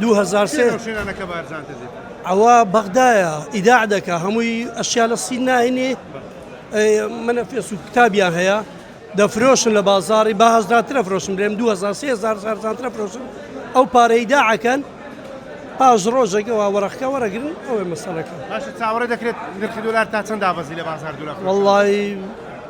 دوو هەزار سێ ئەوە بەغدایە ئیداع دەکا هەمووی ئەشیا لە سین ناهێنێ منە فێس و کتابیان هەیە دەفرۆشن لە بازاری بە هەزراترە فرۆشم لێم 2023 زارزانترە فرۆشن ئەو پارەی داعەکەن پاش ڕۆژێکەوە وەرەخکە وەرەگرن ئەوێ مەسەلەکە چاوەڕێ دەکرێت نرخی دلار تا چەند دابەزی لە بازار دولا وڵی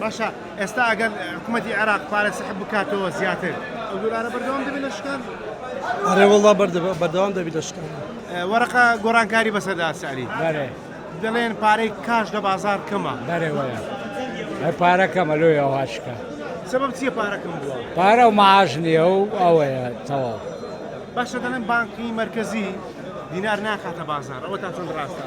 باشە ئێستا ئەگەر حکومەتی عێراق پارە سحب بکاتەوە زیاتر ئەو دۆلارە بەردەوام دەبێت لە شکان؟ ئەرێ وەڵڵا بەردەوام دەبێت لە شکان. وەرەقە گۆرانکاری بەسەردا ئەسعەلی. بەرێ. دەڵێن پارەی کاش لە بازار کەمە. بەرێ وایە. ئەی پارە کەمە لۆ ئەوها شکا. سبب چییە پارە کەم بووە؟ پارە و معاش نییە و ئەوەیە تەواو. باشە دەڵێن بانکی مەرکەزی دینار ناخاتە بازار ئەوە تا چەند ڕاستە؟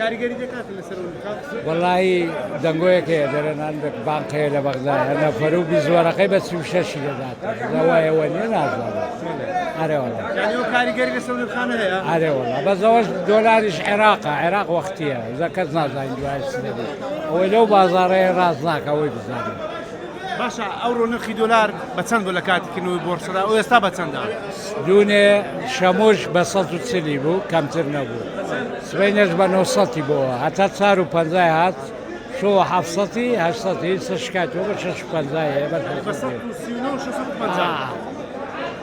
کاریگەری دەکاتن لەسەر ئەو نرخە؟ وەڵایی دەنگۆیەک هەیە دەرێن هەر بانق هەیە لە بەغدا هەر نەفەر و بیست وەرەقەی بە سی و شەش ی دەدات لە وایە وە نیە نازانم ئەرێ وەڵا یانی ئەو کاریگەری لەسەر نرخانە هەیە؟ ئەرێ وەڵا بەس ئەوەش دۆلاریش عێراقە عێراق وەختیە جا کەس نازانین دوای چ دەبێت ئەوەی لەو بازاڕەیە ڕاست ناکە ئەوەی بزانین باشە ئەوڕۆ نرخی دۆلار بە چەند بوو لە کاتی کردنەوەی بۆرسەدا و ئێستا بە چەندە؟ دوێنێ شەمۆش بە سەد و چلی بوو کەمتر نەبوو سبەینەش بە نۆ سەدی بۆوە هەتا چار و پەنجای هات شۆ هەفت سەدی هەشت سەدی سەر شکاتەوە بە شەش و پەنجای هەیە بە شەش سەد و پەنجا.